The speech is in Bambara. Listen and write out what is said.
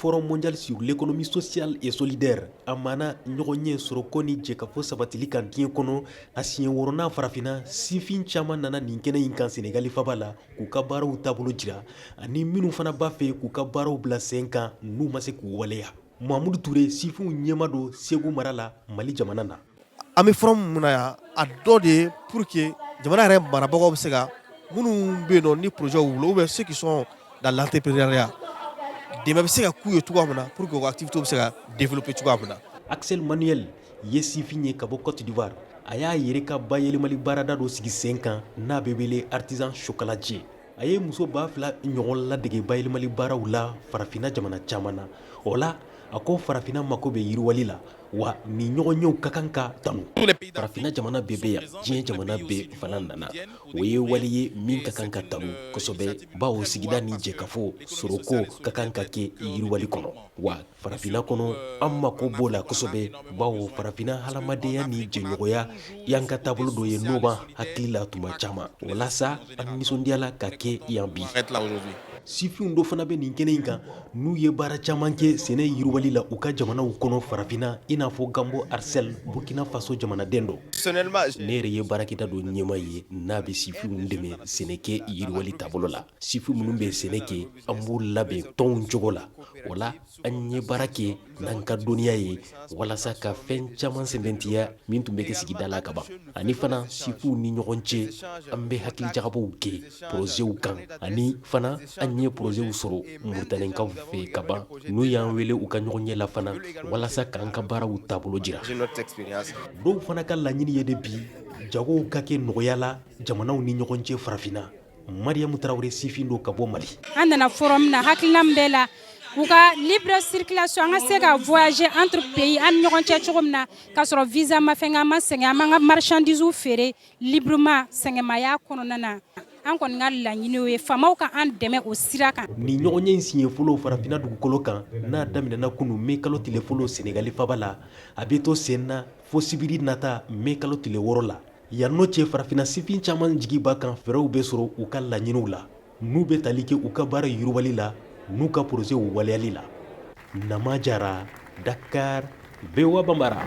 forum mondial sur l'économie sociale et solidaire a mana ɲɔgɔnye sɔrɔko ni jɛkafo sabatili kan diɲɛ kɔnɔ a siɲɛ wɔɔrɔnan farafina sifin caman nana nin kɛnɛ in kan senegali faaba la k'u ka baaraw taabolo jira ani minnu fana b'a fɛ k'u ka baaraw bila sen kan n'u ma se k'u waleya mahamudu ture sifinw ɲɛmaa don segu mara la mali jamana na an bɛ forum min na yan a dɔ de ye pour que jamana yɛrɛ marabagaw bɛ se ka minnu bɛ yen ni projet b'u bolo ou bien ceux qui sont dans l'entrepreneuriat dɛmɛ bɛ se ka k'u ye cogoya min na pour que u ka activité bɛ se ka développer cogoya min na axel emmanuel ye sifin ye ka bɔ côte d'ivoire a y'a yɛrɛ ka bayɛlɛmali baarada dɔ sigi sen kan n'a bɛ wele artisan chocolatier a ye muso ba fila ɲɔgɔn ladege bayɛlɛmali baaraw la farafinna jamana caman na o la a ko farafinna mako bɛ yiriwali la wa nin ɲɔgɔnyew ka kan ka tanu farafinna jamana bɛɛ bɛ yan diɲɛ jamana bɛɛ fana nana o ye wale ye min ka kan ka tanu kosɛbɛ bawo sigida ni jɛkafo sɔrɔko ka kan ka kɛ yiriwali kɔnɔ wa Farafinna kɔnɔ an mako b'o la kosɛbɛ bawo farafinna hadamadenya ni jɛɲɔgɔnya y'an ka taabolo dɔ ye n'o b'an hakili la tuma caman walasa an nisɔndiyala ka kɛ yan bi sifinw dɔ fana bɛ nin kɛnɛ in kan n'u ye baara caman kɛ sɛnɛ yiriwali la u ka jamanaw kɔnɔ farafinna i n'a fɔ ganbo arcel burkina faso jamanaden don ne yɛrɛ ye baarakɛda dɔ ɲɛmaa ye n'a bɛ sifinw dɛmɛ sɛnɛkɛ yiriwali taabolo la sifin minnu bɛ sɛnɛ kɛ an b'u labɛn tɔnw cogo la o la an ye baara kɛ n'an ka dɔnniya ye walasa ka fɛn caman sɛmɛntiya min tun bɛ kɛ sigida la kaban ani fana sifinw ni ɲɔgɔn cɛ an bɛ hakilijagabɔ kɛ porozew kan ani fana an ye porozew sɔrɔ moritanikaw fɛ kaban n'u y'an wele u ka ɲɔgɔnye la fana walasa k'an ka baaraw taabolo jira dɔw fana ka laɲini ye de bi jagow ka kɛ nɔgɔya la jamanaw ni ɲɔgɔn cɛ farafinna Mariamu Traoré sifin don ka bɔ Mali. An nana forum na hakilina min bɛ la u ka libre circulation an ka se ka voyager entre pays an ni ɲɔgɔn cɛ cogo min na ka sɔrɔ visa ma fɛn an ma sɛgɛn an b'an ka marchandise feere librement sɛgɛnmaya kɔnɔna na an kɔni ka laɲini o ye faamaw ka an dɛmɛ o sira kan. Nin ɲɔgɔnye in siɲɛ fɔlɔ farafinna dugukolo kan n'a daminɛna kunu mai kalo tile fɔlɔ Senegali faaba la a bɛ to sen na fo sibiri nata mai kalo tile wɔɔrɔ la. Yan n'o cɛ farafinna sifin caman jigi b'a kan fɛɛrɛw bɛ sɔrɔ u ka laɲiniw la n'u bɛ tali kɛ u ka baara yiriwali la n'u ka porozew waleyali la Nama Jara Dakar VOA Bambara